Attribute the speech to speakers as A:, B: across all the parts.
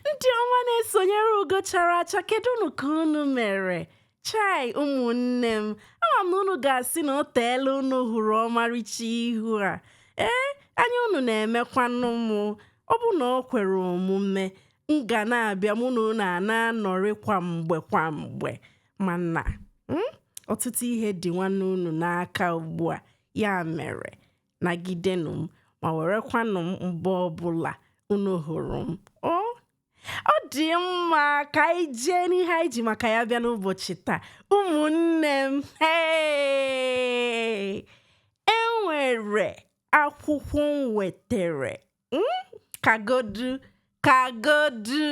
A: Ndị ọma na-esonyere ugo chara acha kedụnụ ka unu mere? Chai ụmụnne m, ama m na unu ga-asị na o teela unu hụrụ ọmarịcha ihu a. Ee, anya unu na-emekwanụ mụ. Ọ bụ na o kwere omume, m ga na-abịa mụ na unu a na-anọrị kwa mgbe kwa mgbe. Mana, mm, ọtụtụ ihe dị nwanne unu n'aka ugbu a, ya mere nagidenụ m ma werekwanụ m mgbe ọbụla unu hụrụ m o ọ dị mma ka anyị jee n'ihe anyị ji maka ya bịa n'ụbọchị taa ụmụnne m hey! enwere akwụkwọ m wetere hmm? kagodu kagodu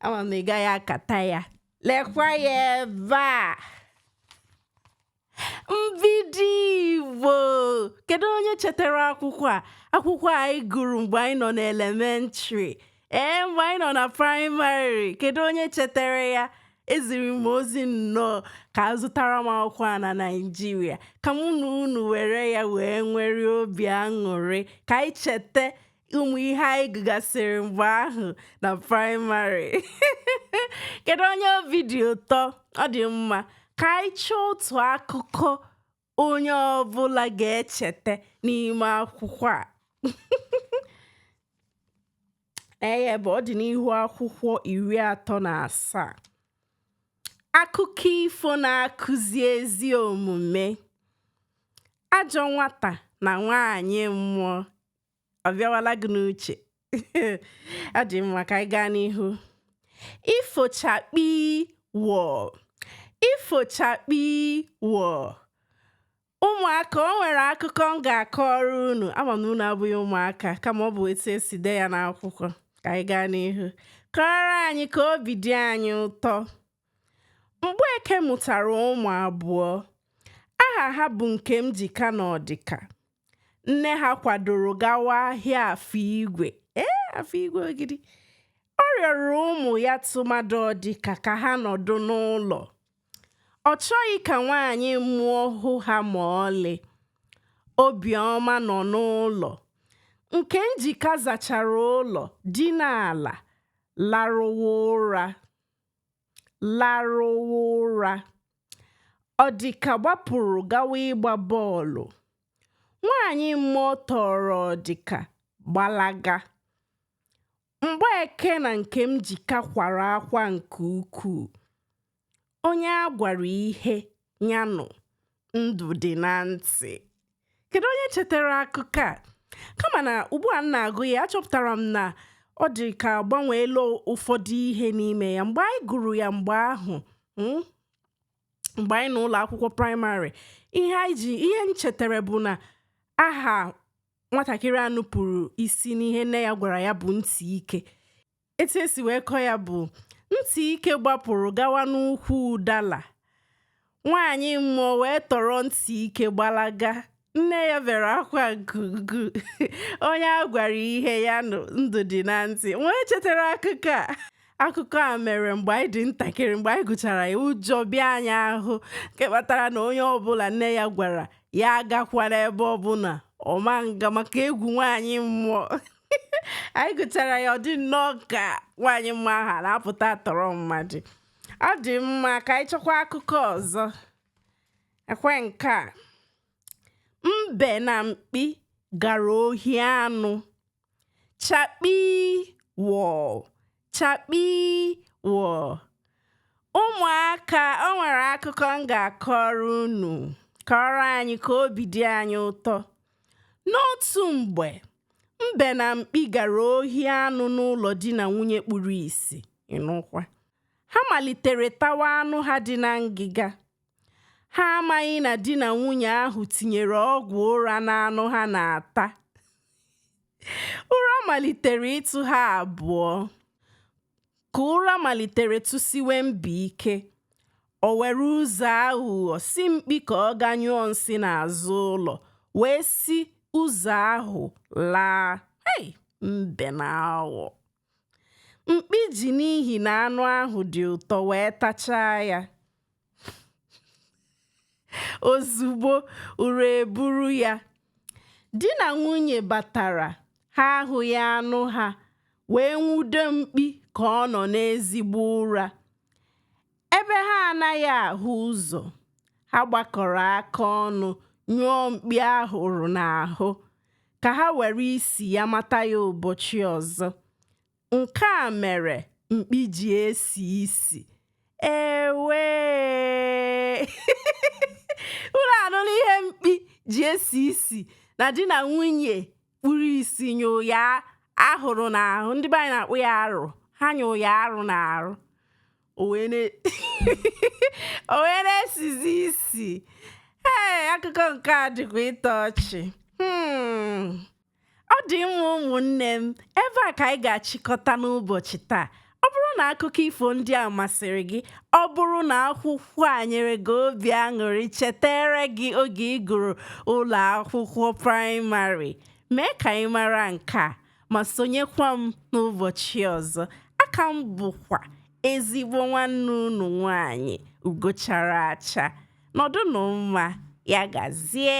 A: ama m na ị gaghị akata ya lekwa ya ebe a Mbido Igbo kedu onye chetara akwụkwọ a akwụkwọ anyị gụrụ mgbe anyị nọ n'elementrị ee mgbe anyị nọ na praịmarị kedu onye chetara ya eziri m ozi nnọọ ka a zụtara m akwụkwọ a na Naịjirịa ka mụ na unu were ya wee nwere obi aṅụrị ka anyị cheta ụmụ ihe anyị gụgasịrị mgbe ahụ na praịmarị kedu onye obi dị ụtọ ọ dị mma ka anyị chọọ otu akụkọ onye ọbụla ga-echeta n'ime akwụkwọ a eye bụ ọ dị n'ihu akwụkwọ iri atọ na asaa akụkọ ifo na-akụzi ezi omume ajọ nwata na nwaanyị mmụọ ọ bịawala gị n'uche ọ dị mma ka anyị gaa n'ihu ifo chakpii wọọ ifo chakpii wọọ ụmụaka o nwere akụkọ m ga-akọrọ unu ama m na unu abụghị ụmụaka kama ọ bụ etu e si dee ya n'akwụkwọ ka anyị gaa n'ihu kọọrọ anyị ka obi dị anyị ụtọ Mgbeke mụtara ụmụ abụọ aha ha bụ Nkemjika na Ọdịka nne ha kwadoro gawa ahịa Afọ Igwe ee Afọ Igwe Ogidi ọ rịọrọ ụmụ ya tụmadụ Ọdịka ka ha nọdụ n'ụlọ ọ chọghị ka nwaanyị mmụọ hụ ha ma ọlị obiọma nọ n'ụlọ Nkemjika zachara ụlọ dina ala larụwa ụra larụwa ụra Ọdịka gbapụrụ gawa ịgba bọọlụ. Nwaanyị mmụọ tọọrọ Ọdịka gbalaga. Mgbeke na Nkemjika kwara akwa nke ukwuu. Onye a gwara ihe ya nụ ndụ dị na ntị. kedu onye chetara akụkọ a kama na ugbu a m na-agụ ya achọpụtara m na ọ dị ka a gbanweela ụfọdụ ihe n'ime ya mgbe anyị gụrụ ya mgbe ahụ mm, mgbe anyị n'ụlọ akwụkwọ praịmarị ihe anyị ji ihe m chetara bụ na aha nwatakịrị a nupụrụ isi n'ihe nne ya gwara ya bụ ntị ike etu e si wee kọọ ya bụ ntị ike gbapụrụ gawa n'ukwu ụdala nwaanyị mmụọ wee tọrọ ntị ike gbalaga nne ya bere akwa gugu onye a gwara ihe ya nụ ndụ dị na ntị nwee chetara akụkọ a akụkọ a mere mgbe anyị dị ntakịrị mgbe anyị gụchara ya ụjọ bịa anyị ahụ nke kpatara na onye ọbụla nne ya gwara ya agakwana ebe ọbụla ọ ma nga maka egwu nwaanyị mmụọ anyị gụchara ya ọ dị nnọọ ka nwaanyị mmụọ ahụ na-apụta tọrọ mmadụ ọ dị mma ka anyị chọkwa akụkọ ọzọ ekwe nke a mbe na mkpi gara ohi anụ chakpii wọọ chakpii wọọ ụmụaka o nwere akụkọ m ga-akọrọ unu kọọrọ anyị ka obi dị anyị ụtọ n'otu mgbe mbe na mkpi gara ohi anụ n'ụlọ di na nwunye kpuru isi ị nụkwa ha malitere tawa anụ ha dị na ngịga ha amaghị na di na nwunye ahụ tinyere ọgwụ ụra n'anụ ha na-ata ụra malitere ịtụ ha abụọ ka ụra malitere tụsiwe mbe ike o were ụzọ aghụghọ sị mkpi ka ọ gaa nyụọ nsị n'azụ ụlọ wee si ụzọ ahụ laa hey, mbe na aghụghọ mkpi ji n'ihi na anụ ahụ dị ụtọ wee tachaa ya ozugbo ụra eburu ya di na nwunye batara ha ahụghị anụ ha wee nwude mkpi ka ọ nọ n'ezigbo ụra ebe ha anaghị ahụ ụzọ ha gbakọrọ aka ọnụ nyụọ mkpi ahụrụ n'ahụ ka ha were isi ya mata ya ụbọchị ọzọ Nke a mere mkpi ji esi isi. Ewee! Unu anụla ihe mkpi ji esi isi na di na nwunye kpuru isi nyụọ ya ahụrụ n'ahụ ndị be anyị na-akpọ ya arụ ha nyụọ ya arụ n'ahụ o wee na- o wee na-esizi isi ee akụkọ nke a dịkwa ịtọ ọchị Hmm. ọ dị mma ụmụnne m ebe a ka anyị ga-achịkọta n'ụbọchị taa ọ bụrụ na akụkọ ifo ndị a masịrị gị ọ bụrụ na akwụkwọ a nyere gị obi aṅụrị cheteere gị oge ị gụrụ ụlọ akwụkwọ praịmarị mee ka anyị mara nke a ma sonyekwa m n'ụbọchị ọzọ aka m bụkwa ezigbo nwanne unu nwanyị ugo chara acha nọdụnụ mma ya gazie